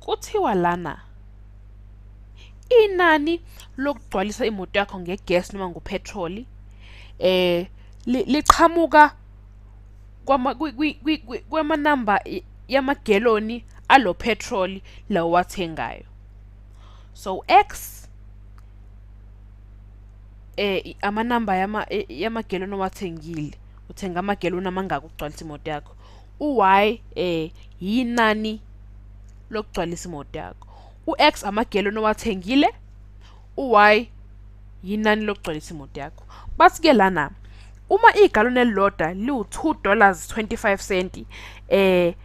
Kuthiwa lana inani lokugcwalisa imoto yakho ngegas noma ngophethroli eh liqhamuka kwama kwamanamba yamageloni alo phethroli lawo wathengayo so x eh amanamba yama e, yamageloni owathengile uthenga amageloni amangaka ukugcwalisa imoto yakho u-y eh yinani lokugcwalisa imoto yakho u-x amageloni owathengile u-y yinani lokugcwalisa imoto yakho bathi ke lana uma igaloni elilodwa liwu-2 dollars 25 cent eh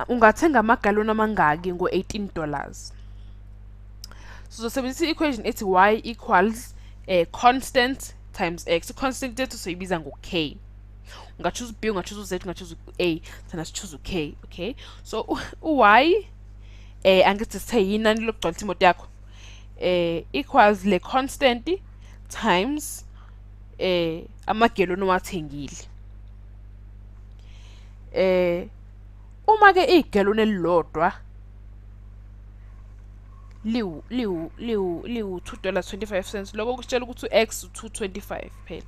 ungathenga amagaloni amangaki ngo-18 dollars sizosebenzisa i-equation ethi y equals eh, constant times x i-constant yethu soyibiza ngo-k ungachuza u-b ungachuza u-z ungachuza u-a thina sichuza u-k okay so u-y eh angithi sithe yinani lokugcwalisa imoto yakho eh equals le constant times eh amageloni owathengile eh uma ke igeloni elilodwa liwu liwu liwu liwu 2 dollars 25 cents lokho kusitshela ukuthi u-x u-225 phela